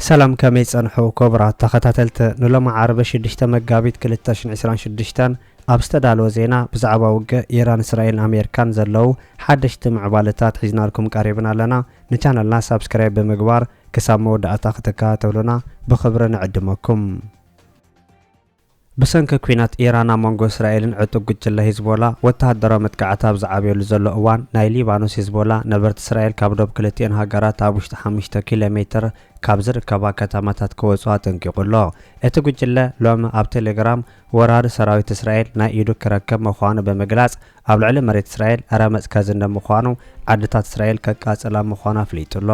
ሰላም ከመይ ጸንሑ ኮቡራት ተኸታተልቲ ንሎሚ ዓርቢ ሽዱሽተ መጋቢት ክልተ ሽሕን ዕስራን ሽዱሽተን ኣብ ዝተዳለወ ዜና ብዛዕባ ውግእ ኢራን እስራኤልን ኣሜሪካን ዘለዉ ሓደሽቲ ምዕባለታት ሒዝናልኩም ቀሪብና ኣለና ንቻነልና ሳብስክራይብ ብምግባር ክሳብ መወዳእታ ክትከታተሉና ብኽብሪ ንዕድመኩም ብሰንኪ ኲናት ኢራን ኣብ መንጎ እስራኤልን ዕጡቕ ጉጅለ ሂዝቦላ ወተሃደራዊ መጥቃዕቲ ኣብ ዝዓብየሉ ዘሎ እዋን፣ ናይ ሊባኖስ ሂዝቦላ ነበርቲ እስራኤል ካብ ዶብ ክልቲኤን ሃገራት ኣብ ውሽጢ ሓሙሽተ ኪሎ ሜትር ካብ ዝርከባ ከተማታት ክወጹ ኣጠንቂቑ ኣሎ። እቲ ጉጅለ ሎሚ ኣብ ቴሌግራም ወራሪ ሰራዊት እስራኤል ናይ ኢዱ ክረከብ ምዃኑ ብምግላጽ ኣብ ልዕሊ መሬት እስራኤል ረመጽ ከዝንብ ምዃኑ ዓድታት እስራኤል ከቃጽላ ምዃኑ ኣፍሊጡ ኣሎ።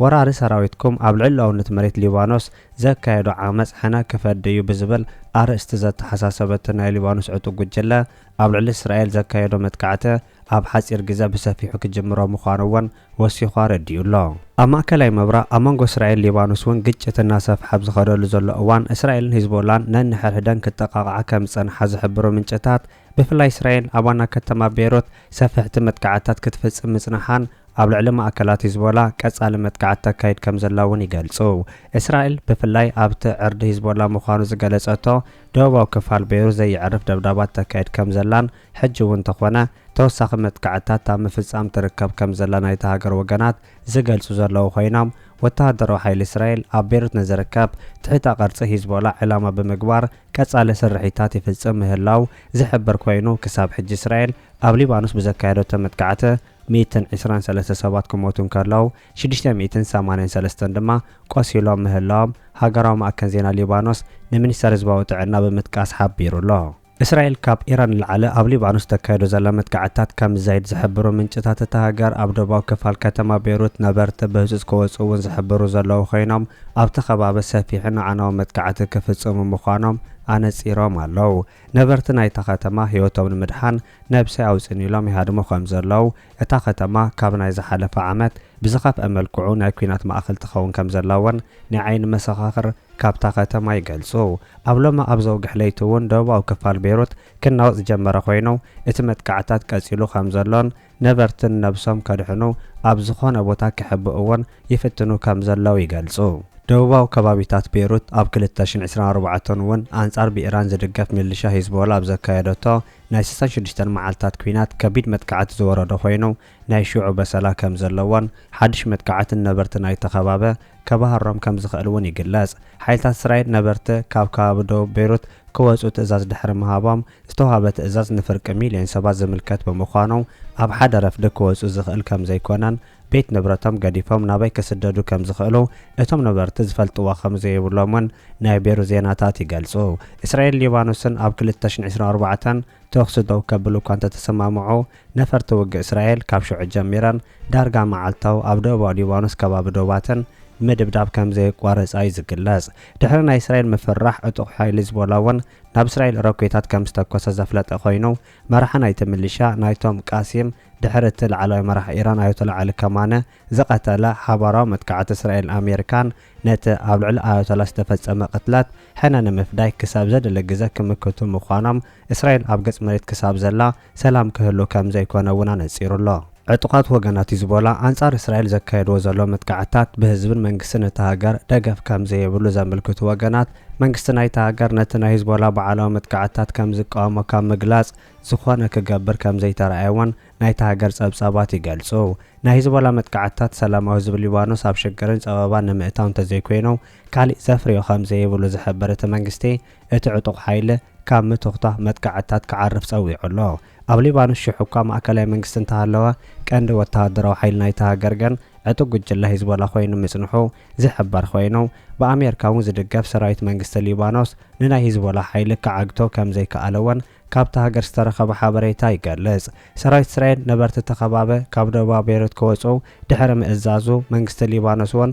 ወራሪ ሰራዊትኩም ኣብ ልዕሉኣውነት መሬት ሊባኖስ ዘካየዶ ዓመጽ ሕነ ክፈዲ እዩ ብዝብል ኣርእስቲ ዘተሓሳሰበ እቲ ናይ ሊባኖስ ዕጡቕ ጉጅለ፣ ኣብ ልዕሊ እስራኤል ዘካየዶ መጥቃዕቲ ኣብ ሓጺር ግዘ ብሰፊሑ ክጅምሮ ምዃኑ እውን ወሲኹ ኣረዲኡ ኣሎ። ኣብ ማእከላይ ምብራቕ ኣብ መንጎ እስራኤልን ሊባኖስ እውን ግጭት እናሰፍሐ ኣብ ዝኸደሉ ዘሎ እዋን፣ እስራኤልን ሂዝቦላን ነንሕድሕደን ክጠቓቕዓ ከም ዝጸንሓ ዝሕብሩ ምንጭታት፣ ብፍላይ እስራኤል ኣብ ዋና ከተማ ቤይሩት ሰፈሕቲ መጥቃዕትታት ክትፍጽም ምጽናሓን ኣብ ልዕሊ ማእከላት ሂዝቦላ ቀጻሊ መጥቃዕቲ ተካይድ ከምዘላ'ውን ይገልጹ። እስራኤል ብፍላይ ኣብቲ ዕርዲ ሂዝቦላ ምዃኑ ዝገለጸቶ ደቡባዊ ክፋል ቤይሩት ዘየዕርፍ ደብዳባት ተካይድ ከምዘላን ሕጂ'ውን እንተኾነ ተወሳኺ መጥቃዕትታት ኣብ ምፍጻም ትርከብ ከምዘላ ናይታ ሃገር ወገናት ዝገልጹ ዘለዉ ኮይኖም ወተሃደራዊ ሓይሊ እስራኤል ኣብ ቤይሩት ንዝርከብ ትሕተ ቅርጺ ሂዝቦላ ዒላማ ብምግባር ቀጻሊ ስርሒታት ይፍጽም ምህላዉ ዝሕብር ኮይኑ፣ ክሳብ ሕጂ እስራኤል ኣብ ሊባኖስ ብዘካየደቶ መጥቃዕቲ ሚእትን ዕስራን ሰለስተ ሰባት ክሞቱ እንከለዉ፣ ሽዱሽተ ሚእትን ሰማንያን ሰለስተን ድማ ቆሲሎም ምህላዎም ሃገራዊ ማእከን ዜና ሊባኖስ ንሚኒስተር ህዝባዊ ጥዕና ብምጥቃስ ሓቢሩ ኣሎ። እስራኤል ካብ ኢራን ንላዕሊ ኣብ ሊባኖስ እተካይዶ ዘላ መጥቃዕትታት ከም ዝዛይድ ዝሕብሩ ምንጭታት እታ ሃገር፣ ኣብ ደቡባዊ ክፋል ከተማ ቤሩት ነበርቲ ብህጹጽ ክወጽኡ'ውን ዝሕብሩ ዘለዉ ኮይኖም፣ ኣብቲ ከባቢ ሰፊሕን ኣዕናዊ መጥቃዕቲ ክፍጽሙ ምዃኖም ኣነጺሮም ኣለው። ነበርቲ ናይታ ከተማ ህይወቶም ንምድሓን ነብሰይ ኣውጽኒ ኢሎም ይሃድሙ ከም ዘለው፣ እታ ከተማ ካብ ናይ ዝሓለፈ ዓመት ብዝኸፍኣ መልክዑ ናይ ኲናት ማእከል ትኸውን ከም ዘላ'ውን ናይ ዓይኒ መሰኻኽር ካብታ ከተማ ይገልጹ። ኣብ ሎሚ ኣብ ዘውግሕ ለይቲ'ውን ደቡባዊ ክፋል ቤይሩት ክናወጽ ዝጀመረ ኮይኑ፣ እቲ መጥቃዕትታት ቀጺሉ ከም ዘሎን፣ ነበርትን ነብሶም ከድሕኑ ኣብ ዝኾነ ቦታ ክሕብእዎን ይፍትኑ ከም ዘለዉ ይገልጹ። ደቡባዊ ከባቢታት ቤይሩት ኣብ ክልተ ሽሕን ዕስራን ኣርባዕተን እውን ኣንጻር ብኢራን ዝድገፍ ሚሊሻ ሂዝቦላ ኣብ ዘካየደቶ ናይ ስሳን ሽዱሽተን መዓልታት ኲናት ከቢድ መጥቃዕቲ ዝወረዶ ኮይኑ ናይ ሽዑ በሰላ ከም ዘለዎን ሓድሽ መጥቃዕቲ ንነበርቲ ናይቲ ከባቢ ከባህሮም ከም ዝኽእል እውን ይግለጽ። ሓይልታት እስራኤል ነበርቲ ካብ ከባቢ ደቡብ ቤይሩት ክወጹ ትእዛዝ ድሕሪ ምሃቦም ዝተዋህበ ትእዛዝ ንፍርቂ ሚልዮን ሰባት ዝምልከት ብምዃኑ፣ ኣብ ሓደ ረፍዲ ክወጹ ዝኽእል ከም ዘይኮነን ቤት ንብረቶም ገዲፎም ናበይ ክስደዱ ከም ዝኽእሉ እቶም ነበርቲ ዝፈልጥዎ ከም ዘይብሎም'ውን ናይ ቤሩ ዜናታት ይገልጹ። እስራኤልን ሊባኖስን ኣብ ክልተ ሽሕን ዕስራን ኣርባዕተን ተኹሲ ደው ከብሉ እኳ እንተተሰማምዑ፣ ነፈርቲ ውግእ እስራኤል ካብ ሽዑ ጀሚረን ዳርጋ መዓልታዊ ኣብ ደቡባዊ ሊባኖስ ከባቢ ዶባተን ምድብዳብ ከም ዘየቋረጻ'ዩ ዝግለጽ። ድሕሪ ናይ እስራኤል ምፍርራሕ ዕጡቕ ሓይሊ ሂዝቦላ'ውን ናብ እስራኤል ሮኬታት ከም ዝተኮሰ ዘፍለጠ ኮይኑ፣ መራሒ ናይቲ ምልሻ ናይቶም ቃሲም ድሕሪ እቲ ላዕለዋይ መራሒ ኢራን ኣያቶላ ዓሊ ከማነ ዝቐተለ ሓባራዊ መጥቃዕቲ እስራኤልን ኣሜሪካን ነቲ ኣብ ልዕሊ ኣያቶላ ዝተፈጸመ ቅትለት ሕነ ንምፍዳይ ክሳብ ዘድሊ ግዘ ክምክቱ ምዃኖም እስራኤል ኣብ ገጽ መሬት ክሳብ ዘላ ሰላም ክህሉ ከም ዘይኮነ እውን ኣነጺሩ ኣሎ። ዕጡቓት ወገናት ሂዝቦላ ኣንጻር እስራኤል ዘካየድዎ ዘለዉ መጥቃዕትታት ብህዝብን መንግስትን እታ ሃገር ደገፍ ከም ዘይብሉ ዘምልክቱ ወገናት፣ መንግስቲ ናይታ ሃገር ነቲ ናይ ሂዝቦላ በዓላዊ መጥቃዕትታት ከም ዝቃወሞ ካብ ምግላጽ ዝኾነ ክገብር ከም ዘይተራእየ እውን ናይታ ሃገር ጸብጻባት ይገልጹ። ናይ ሂዝቦላ መጥቃዕትታት ሰላማዊ ህዝቢ ሊባኖስ ኣብ ሽግርን ጸበባን ንምእታው እንተዘይኮይኑ ካሊእ ዘፍርዮ ከም ዘይብሉ ዝሕብር እቲ መንግስቲ፣ እቲ ዕጡቕ ሓይሊ፣ ካብ ምትኹታኽ መጥቃዕትታት ክዓርፍ ጸዊዑ ኣሎ። ኣብ ሊባኖስ ሽሕ'ኳ ማእከላይ መንግስቲ እንተሃለወ፣ ቀንዲ ወተሃደራዊ ሓይሊ ናይታ ሃገር ግን ዕጡቕ ጉጅለ ሂዝቦላ ኮይኑ ምጽንሑ ዝሕበር ኮይኑ፣ ብኣሜርካ'ውን ዝድገፍ ሰራዊት መንግስቲ ሊባኖስ ንናይ ሂዝቦላ ሓይሊ ክዓግቶ ከምዘይክኣለ'ውን ካብታ ሃገር ዝተረኸበ ሓበሬታ ይገልጽ። ሰራዊት እስራኤል ነበርቲ እታ ከባቢ ካብ ደቡባዊ ቤይሩት ክወጽኡ ድሕሪ ምእዛዙ፣ መንግስቲ ሊባኖስ'ውን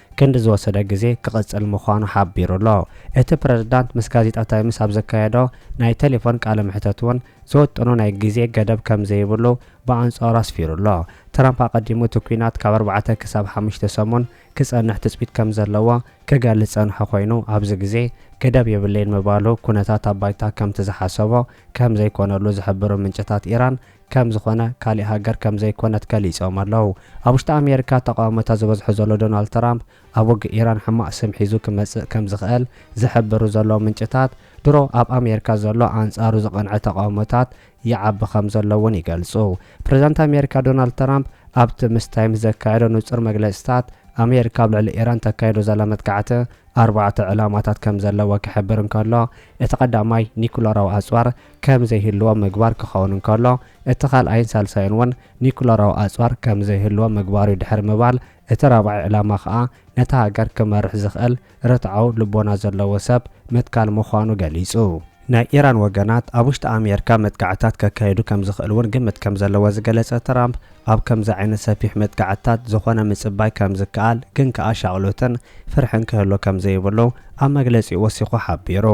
ክንዲ ዝወሰደ ግዜ ክቕጽል ምዃኑ ሓቢሩ'ሎ። እቲ ፕረዚዳንት ምስ ጋዜጣ ታይምስ ኣብ ዘካየዶ ናይ ተሌፎን ቃለ መሕተት'ውን ዝውጥኖ ናይ ግዜ ገደብ ከም ዘይብሉ ብኣንጻሩ ኣስፊሩ'ሎ። ትራምፕ ኣቐዲሙ እቲ ኲናት ካብ ኣርባዕተ ክሳብ ሓሙሽተ ሰሙን ክጸንሕ ትጽቢት ከም ዘለዎ ክገልጽ ዝጸንሖ ኰይኑ ኣብዚ ግዜ ገደብ የብለይን ምባሉ ኵነታት ኣብ ባይታ ከምቲ ዝሓሰቦ ከም ዘይኰነሉ ዝሕብሩ ምንጭታት ኢራን ከም ዝኾነ ካሊእ ሃገር ከም ዘይኮነት ገሊጾም ኣለው። ኣብ ውሽጢ ኣሜሪካ ተቓውሞታት ዝበዝሖ ዘሎ ዶናልድ ትራምፕ ኣብ ውግእ ኢራን ሕማቕ ስም ሒዙ ክመጽእ ከም ዝኽእል ዝሕብሩ ዘለው ምንጭታት ድሮ ኣብ ኣሜሪካ ዘሎ ኣንጻሩ ዝቐንዐ ተቓውሞታት ይዓቢ ከም ዘሎ እውን ይገልጹ። ፕሬዝዳንት ኣሜሪካ ዶናልድ ትራምፕ ኣብቲ ምስ ታይምስ ዘካየዶ ንጹር መግለጺታት ኣሜሪካ ኣብ ልዕሊ ኢራን ተካይዶ ዘላ መጥቃዕቲ ኣርባዕተ ዕላማታት ከም ዘለዎ ክሕብር እንከሎ እቲ ቀዳማይ ኒኩለራዊ ኣጽዋር ከም ዘይህልዎም ምግባር ክኸውን እንከሎ፣ እቲ ካልኣይን ሳልሳይን እውን ኒዩክለራዊ ኣጽዋር ከም ዘይህልዎም ምግባር'ዩ ድሕሪ ምባል፣ እቲ ራብዓይ ዕላማ ከኣ ነታ ሃገር ክመርሕ ዝኽእል ርትዓዊ ልቦና ዘለዎ ሰብ ምትካል ምዃኑ ገሊጹ። ናይ ኢራን ወገናት ኣብ ውሽጢ ኣሜርካ መጥቃዕትታት ከካይዱ ከም ዝኽእል እውን ግምት ከም ዘለዎ ዝገለጸ ትራምፕ፣ ኣብ ከምዚ ዓይነት ሰፊሕ መጥቃዕትታት ዝኾነ ምጽባይ ከም ዝከኣል ግን ከኣ ሻቕሎትን ፍርሕን ክህሉ ከም ዘይብሉ ኣብ መግለጺኡ ወሲኹ ሓቢሩ።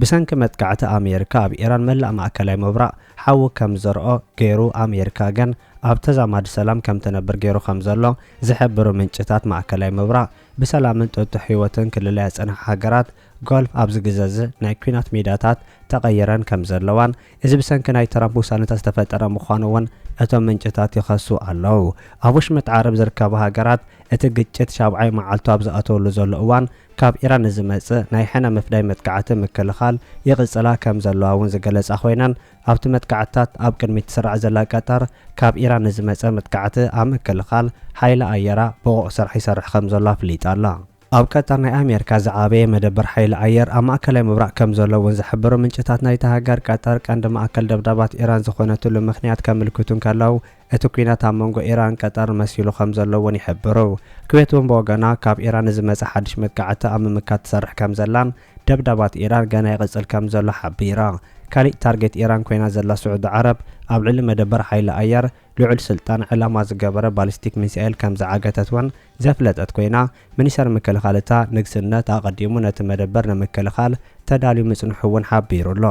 ብሰንኪ መጥቃዕቲ ኣሜሪካ ኣብ ኢራን መላእ ማእከላይ ምብራቕ ሓዊ ከም ዝርኦ ገይሩ ኣሜሪካ ግን ኣብ ተዛማዲ ሰላም ከም ትነብር ገይሩ ከም ዘሎ ዝሕብሩ ምንጭታት ማእከላይ ምብራቕ ብሰላምን ጥጡሕ ህይወትን ክልለያ ዝጸንሓ ሃገራት ጎልፍ ኣብዚ ግዘዚ ናይ ኩናት ሜዳታት ተቐይረን ከም ዘለዋን እዚ ብሰንኪ ናይ ትራምፕ ውሳነታት ዝተፈጠረ ምዃኑ እውን እቶም ምንጭታት ይኸሱ ኣለው። ኣብ ወሽመጥ ዓረብ ዝርከባ ሃገራት እቲ ግጭት ሻብዓይ መዓልቱ ኣብ ዝኣተወሉ ዘሎ እዋን ካብ ኢራን ንዝመጽእ ናይ ሕነ ምፍዳይ መጥቃዕቲ ምክልኻል ይቕጽላ ከም ዘለዋ'ውን ዝገለጻ ኮይነን፣ ኣብቲ መጥቃዕትታት ኣብ ቅድሚት ትስራዕ ዘላ ቀጠር፣ ካብ ኢራን ንዝመጸ መጥቃዕቲ ኣብ ምክልኻል ሓይሊ ኣየራ ብቑዕ ስራሕ ይሰርሕ ከም ዘሎ ኣፍሊጣ ኣላ። ኣብ ቀጠር ናይ ኣሜሪካ ዝዓበየ መደበር ሓይሊ ኣየር ኣብ ማእከላይ ምብራቕ ከም ዘሎ'ውን ዝሕብሩ ምንጭታት ናይታ ሃገር፣ ቀጠር ቀንዲ ማእከል ደብዳባት ኢራን ዝኾነትሉ ምኽንያት ከምልክቱ እንከለው፣ እቲ ኲናት ኣብ መንጎ ኢራን ቀጠር መሲሉ ከም ዘሎ እውን ይሕብሩ። ኩዌት እውን ብወገና ካብ ኢራን ንዝመጸ ሓድሽ መጥቃዕቲ ኣብ ምምካት ትሰርሕ ከም ዘላን ደብዳባት ኢራን ገና ይቕጽል ከም ዘሎ ሓቢራ። ካሊእ ታርጌት ኢራን ኮይና ዘላ ስዑዲ ዓረብ ኣብ ልዕሊ መደበር ሓይሊ ኣየር ልዑል ስልጣን ዕላማ ዝገበረ ባሊስቲክ ሚሳኤል ከም ዝዓገተት እውን ዘፍለጠት ኮይና ሚኒስተር ምክልኻል እታ ንግስነት ኣቐዲሙ ነቲ መደበር ንምክልኻል ተዳልዩ ምጽንሑ እውን ሓቢሩ ኣሎ።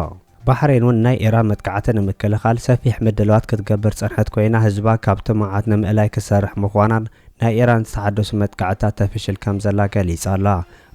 ባሕሬን ውን ናይ ኢራን መጥቃዕቲ ንምክልኻል ሰፊሕ ምድላዋት ክትገብር ዝጸንሐት ኮይና ህዝባ ካብ ጥሙዓት ንምእላይ ክትሰርሕ ምዃናን ናይ ኢራን ዝተሓደሱ መጥቃዕትታት ተፍሽል ከምዘላ ገሊጻ ኣላ።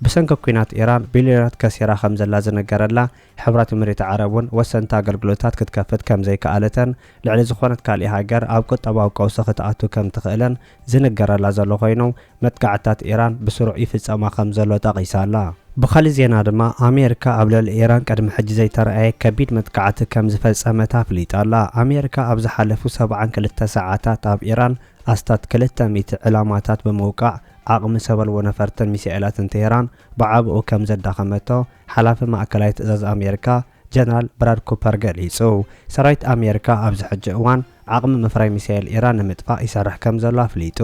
ብሰንኪ ኲናት ኢራን ቢልዮናት ከሲራ ከምዘላ ዝንገረላ ሕብራት ኢሚሬት ዓረብ ውን ወሰንቲ ኣገልግሎታት ክትከፍት ከምዘይከኣለተን ልዕሊ ዝኾነት ካልእ ሃገር ኣብ ቁጠባዊ ቀውሲ ክትኣቱ ከምትኽእልን ዝንገረላ ዘሎ ኮይኑ፣ መጥቃዕትታት ኢራን ብስሩዕ ይፍጸማ ከም ዘሎ ጠቒሳ ኣላ። ብኻልእ ዜና ድማ፣ ኣሜሪካ ኣብ ልዕሊ ኢራን ቅድሚ ሕጂ ዘይተራእየ ከቢድ መጥቃዕቲ ከም ዝፈጸመት ኣፍሊጣ ኣላ። ኣሜሪካ ኣብ ዝሓለፉ ሰብዓን ክልተ ሰዓታት ኣብ ኢራን ኣስታት ክልተ ሚእቲ ዕላማታት ብምውቃዕ ዓቕሚ ሰበልቦ ነፈርትን ሚሳኤላትን ቴህራን ብዓበኡ ከም ዘዳኸመቶ ሓላፊ ማእከላይ ትእዛዝ ኣሜሪካ ጀነራል ብራድ ኩፐር ገሊጹ። ሰራዊት ኣሜሪካ ኣብዚ ሕጂ እዋን ዓቕሚ ምፍራይ ሚሳኤል ኢራን ንምጥፋእ ይሰርሕ ከምዘሎ ኣፍሊጡ።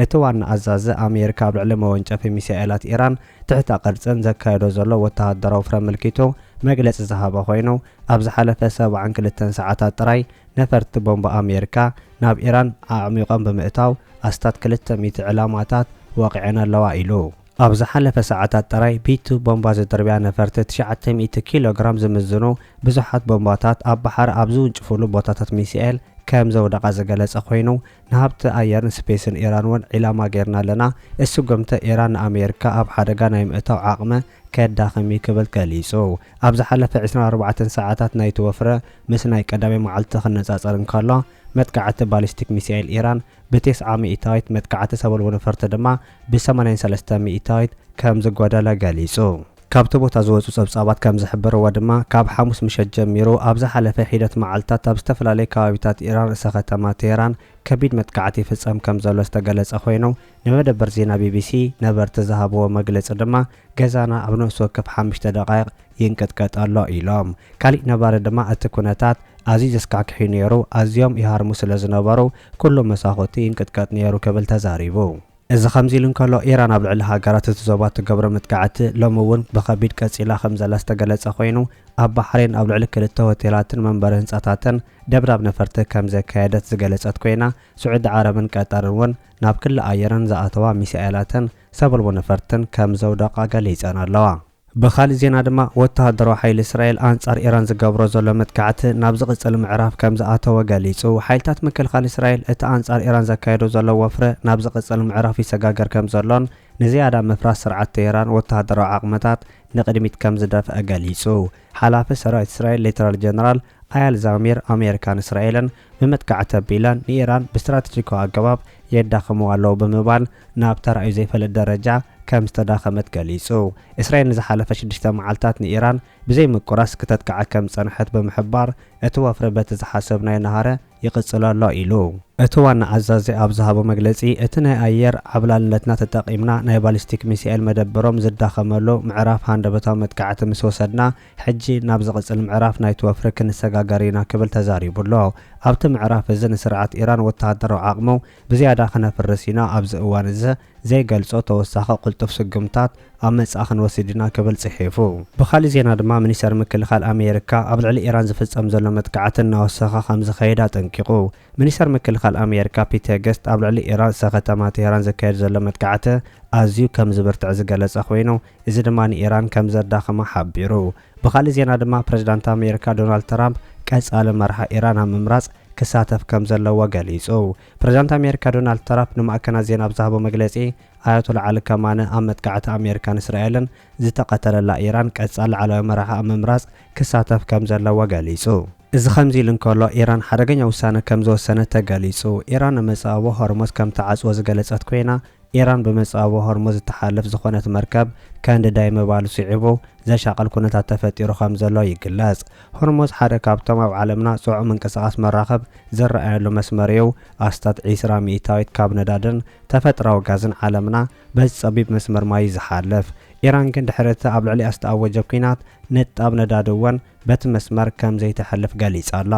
እቲ ዋና ኣዛዚ ኣሜሪካ ኣብ ልዕሊ መወንጨፊ ሚሳኤላት ኢራን ትሕተ ቅርጽን ዘካይዶ ዘሎ ወተሃደራዊ ፍረ ኣመልኪቱ መግለጺ ዝሃበ ኮይኑ ኣብ ዝሓለፈ ሰብዓን ክልተን ሰዓታት ጥራይ ነፈርቲ ቦምባ ኣሜሪካ ናብ ኢራን ኣዕሚቖም ብምእታው ኣስታት ክልተ ሚእቲ ዕላማታት ወቒዐን ኣለዋ ኢሉ። ኣብ ዝሓለፈ ሰዓታት ጥራይ ቢቱ ቦምባ ዝድርብያ ነፈርቲ ትሽዓተ ሚእቲ ኪሎ ግራም ዝምዝኑ ብዙሓት ቦምባታት ኣብ ባሕሪ ኣብ ዝውንጭፍሉ ቦታታት ሚሳኤል ከም ዘውደቓ ዝገለጸ ኮይኑ፣ ንሃብቲ ኣየርን ስፔስን ኢራን እውን ዒላማ ገይርና ኣለና፣ እዚ ስጉምቲ ኢራን ንኣሜሪካ ኣብ ሓደጋ ናይ ምእታው ዓቕመ ከዳኽም እዩ ክብል ገሊጹ። ኣብ ዝሓለፈ ዕስራን ኣርባዕተን ሰዓታት ናይቲ ወፍሪ ምስ ናይ ቀዳመይ መዓልቲ ክነጻጸር እንከሎ፣ መጥቃዕቲ ባሊስቲክ ሚሳኤል ኢራን ብቴስዓ ሚኢታዊት መጥቃዕቲ ሰበልቦ ነፈርቲ ድማ ብሰማንያን ሰለስተ ሚኢታዊት ከም ዝጎደለ ገሊጹ። ካብቲ ቦታ ዝወጹ ጸብጻባት ከም ዝሕብርዎ ድማ፣ ካብ ሓሙስ ምሸት ጀሚሩ ኣብ ዝሓለፈ ሒደት መዓልታት ኣብ ዝተፈላለየ ከባቢታት ኢራን ርእሰ ከተማ ቴህራን ከቢድ መጥቃዕቲ ይፍጸም ከም ዘሎ ዝተገለጸ ኮይኑ፣ ንመደበር ዜና ቢቢሲ ነበርቲ ዝሃብዎ መግለጺ ድማ ገዛና ኣብ ነፍሲ ወከፍ ሓምሽተ ደቓይቕ ይንቅጥቀጥ ኣሎ ኢሎም። ካሊእ ነባሪ ድማ እቲ ኩነታት ኣዝዩ ዘስካሕክሕ'ዩ ነይሩ፣ ኣዝዮም ይሃርሙ ስለዝነበሩ ኩሉ መሳኹቲ ይንቅጥቀጥ ነይሩ ክብል ተዛሪቡ። እዚ ከምዚ ኢሉ እንከሎ፣ ኢራን ኣብ ልዕሊ ሃገራት እቲ ዞባ እትገብሮ መጥቃዕቲ ሎሚ እውን ብኸቢድ ቀጺላ ከምዘላ ዝተገለጸ ኮይኑ፣ ኣብ ባሕሬን ኣብ ልዕሊ ክልተ ሆቴላትን መንበሪ ህንጻታትን ደብዳብ ነፈርቲ ከምዘካየደት ዝገለጸት ኮይና፣ ስዑዲ ዓረብን ቀጠርን እውን ናብ ክሊ ኣየረን ዝኣተዋ ሚሳኤላትን ሰብኣልቦ ነፈርትን ከም ዘውደቓ ገሊጸን ኣለዋ። ብኻልእ ዜና ድማ፣ ወተሃደራዊ ሓይሊ እስራኤል ኣንጻር ኢራን ዝገብሮ ዘሎ መጥቃዕቲ ናብ ዝቕጽል ምዕራፍ ከም ዝኣተወ ገሊጹ። ሓይልታት ምክልኻል እስራኤል፣ እቲ ኣንጻር ኢራን ዘካይዶ ዘሎ ወፍሪ ናብ ዝቕጽል ምዕራፍ ይሰጋገር ከም ዘሎን ንዝያዳ ምፍራስ ስርዓት ቴህራን ወተሃደራዊ ዓቕምታት ንቕድሚት ከም ዝደፍኣ ገሊጹ። ሓላፊ ሰራዊት እስራኤል ሌተናል ጀነራል ኣያል ዛሚር፣ ኣሜሪካን እስራኤልን ብመጥቃዕቲ ኣቢለን ንኢራን ብስትራተጂካዊ ኣገባብ የዳኽምዋ ኣለዉ ብምባል ናብ ተራእዩ ዘይፈልጥ ደረጃ ከም ዝተዳኸመት ገሊጹ። እስራኤል ንዝሓለፈ ሽዱሽተ መዓልታት ንኢራን ብዘይምቁራስ ክተጥቅዓ ከም ዝጸንሐት ብምሕባር፣ እቲ ወፍሪ በቲ ዝሓሰብናዮ ነሃረ፣ ይቕጽል ኣሎ ኢሉ። እቲ ዋና ኣዛዚ ኣብ ዝሃቦ መግለጺ፣ እቲ ናይ ኣየር ዓብላልነትና ተጠቒምና ናይ ባሊስቲክ ሚሳኤል መደበሮም ዝዳኸመሉ ምዕራፍ ሃንደበታዊ መጥቃዕቲ ምስ ወሰድና፣ ሕጂ ናብ ዝቕጽል ምዕራፍ ናይቲ ወፍሪ ክንሰጋገር ኢና ክብል ተዛሪቡ'ሎ። ኣብቲ ምዕራፍ እዚ ንስርዓት ኢራን ወተሃደራዊ ዓቕሙ ብዝያዳ ክነፍርስ ኢና፣ ኣብዚ እዋን እዚ፣ ዘይገልጾ ተወሳኺ ቅልጡፍ ስጉምታት ኣብ ምጽኣ ክንወስድ ኢና ክብል ጽሒፉ። ብኻልእ ዜና ድማ ሚኒስተር ምክልኻል ኣሜሪካ ኣብ ልዕሊ ኢራን ዝፍጸም ዘሎ መጥቃዕቲ እናወሰኸ ከምዝኸይድ ኣጠንቂቑ። ሚኒስተር ምክልኻል ኣሜሪካ ፒት ሄገስት ኣብ ልዕሊ ኢራን ርእሰ ከተማ ቴህራን ዝካየድ ዘሎ መጥቃዕቲ ኣዝዩ ከምዝብርትዕ ዝገለጸ ኮይኑ እዚ ድማ ንኢራን ከምዘዳኽማ ሓቢሩ። ብኻልእ ዜና ድማ ፕረዚዳንት ኣሜሪካ ዶናልድ ትራምፕ ቀጻሊ መራሒ ኢራን ኣብ ምምራጽ ክሳተፍ ከምዘለዎ ገሊጹ። ፕሬዝዳንት ኣሜሪካ ዶናልድ ትራፕ ንማዕከናት ዜና ኣብ ዝሃቦ መግለጺ፣ ኣያቶላ ዓሊ ከማነ ኣብ መጥቃዕቲ ኣሜሪካን እስራኤልን ዝተቐተለላ ኢራን ቀጻሊ ላዕለዋይ መራሒ ኣብ ምምራጽ ክሳተፍ ከም ዘለዎ ገሊጹ። እዚ ከምዚ ኢሉ እንከሎ፣ ኢራን ሓደገኛ ውሳነ ከም ዝወሰነት ተገሊጹ። ኢራን ኣብ መጻብቦ ሆርሞዝ ከም ትዓጽዎ ዝገለጸት ኮይና፣ ኢራን ብመጻብቦ ሆርሞዝ እትሓልፍ ዝኾነት መርከብ ከንድዳ'የ ምባሉ ስዒቡ ዘሻቕል ኩነታት ተፈጢሩ ከም ዘሎ ይግለጽ። ሆርሞዝ ሓደ ካብቶም ኣብ ዓለምና ጽዑቕ ምንቅስቓስ መራኽብ ዝረኣየሉ መስመር እዩ። ኣስታት ዕስራ ሚእታዊት ካብ ነዳድን ተፈጥራዊ ጋዝን ዓለምና በዚ ጸቢብ መስመር ማይ እዩ ዝሓልፍ። ኢራን ግን ድሕሪ እቲ ኣብ ልዕሊኣ ዝተኣወጀ ኲናት ንጣብ ነዳዲ እውን በቲ መስመር ከም ዘይተሕልፍ ገሊጻ ኣላ።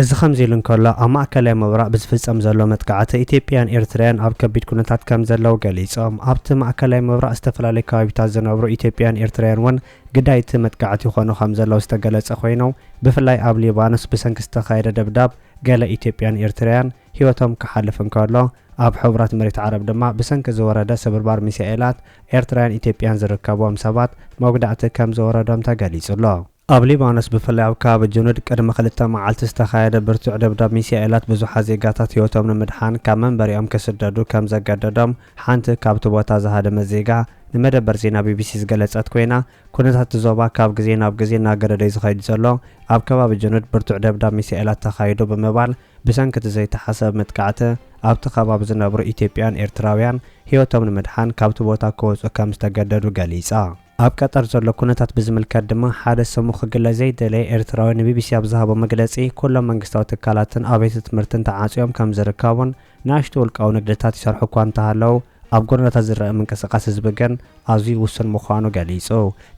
እዚ ከምዚ ኢሉ እንከሎ፣ ኣብ ማእከላይ ምብራቕ ብዝፍጸም ዘሎ መጥቃዕቲ ኢትዮጵያን ኤርትርያን ኣብ ከቢድ ኩነታት ከም ዘለዉ ገሊጾም። ኣብቲ ማእከላይ ምብራቕ ዝተፈላለዩ ከባቢታት ዝነብሩ ኢትዮጵያን ኤርትርያን እውን ግዳይ እቲ መጥቃዕቲ ይኾኑ ከምዘለዉ ዝተገለጸ ኮይኑ፣ ብፍላይ ኣብ ሊባኖስ ብሰንኪ ዝተኻየደ ደብዳብ ገለ ኢትዮጵያን ኤርትርያን ህይወቶም ክሓልፍ እንከሎ፣ ኣብ ሕቡራት መሬት ዓረብ ድማ ብሰንኪ ዝወረደ ስብርባር ሚሳኤላት ኤርትራውያን ኢትዮጵያን ዝርከብዎም ሰባት መጉዳእቲ ከምዝወረዶም ተገሊጹ'ሎ። ኣብ ሊባኖስ ብፍላይ ኣብ ከባቢ ጁኑድ ቅድሚ ክልተ መዓልቲ ዝተኻየደ ብርቱዕ ደብዳብ ሚሳኤላት ብዙሓት ዜጋታት ህይወቶም ንምድሓን ካብ መንበሪኦም ክስደዱ ከምዘገደዶም ሓንቲ ካብቲ ቦታ ዝሃደመት ዜጋ ንመደበር ዜና ቢቢሲ ዝገለጸት ኮይና፣ ኩነታት'ቲ ዞባ ካብ ግዜ ናብ ግዜ እናገደደ'ዩ ዝኸይድ ዘሎ፣ ኣብ ከባቢ ጁኑድ ብርቱዕ ደብዳብ ሚሳኤላት ተኻይዱ ብምባል ብሰንኪ'ቲ ዘይተሓሰበ መጥቃዕቲ ኣብቲ ከባቢ ዝነብሩ ኢትዮጵያውያን ኤርትራውያን ህይወቶም ንምድሓን ካብቲ ቦታ ክወጹ ከምዝተገደዱ ገሊጻ። ኣብ ቀጠር ዘሎ ኩነታት ብዝምልከት ድማ ሓደ ስሙ ክግለጽ ዘይደለየ ኤርትራዊ ንቢቢሲ ኣብ ዝሃቦ መግለጺ ኩሎም መንግስታዊ ትካላትን ኣብያተ ትምህርትን ተዓጽዮም ከም ዝርከቡን ንኣሽቱ ውልቃዊ ንግድታት ይሰርሑ እኳ እንተሃለዉ ኣብ ጎደናታት ዝረኣ ምንቅስቓስ ህዝቢ ግን ኣዝዩ ውሱን ምዃኑ ገሊጹ።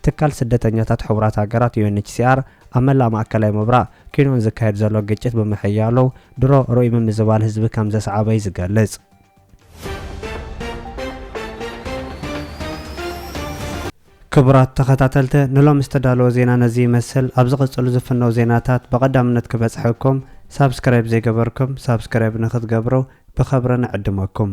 ትካል ስደተኛታት ሕቡራት ሃገራት፣ ዩኤንኤችሲኣር፣ ኣብ መላእ ማእከላይ ምብራቕ ኪኖን ዝካየድ ዘሎ ግጭት ብምሕያሉ ድሮ ርኡይ ምምዝባል ህዝቢ ከም ዘስዓበ'ዩ ዝገልጽ። ክቡራት ተኸታተልተ ንሎሚ ዝተዳለወ ዜና ነዚ ይመስል ኣብ ዝቕጽሉ ዝፍነው ዜናታት ብቐዳምነት ክበጽሐኩም ሳብስክራይብ ዘይገበርኩም ሳብስክራይብ ንክትገብሩ ብኸብሪ ንዕድመኩም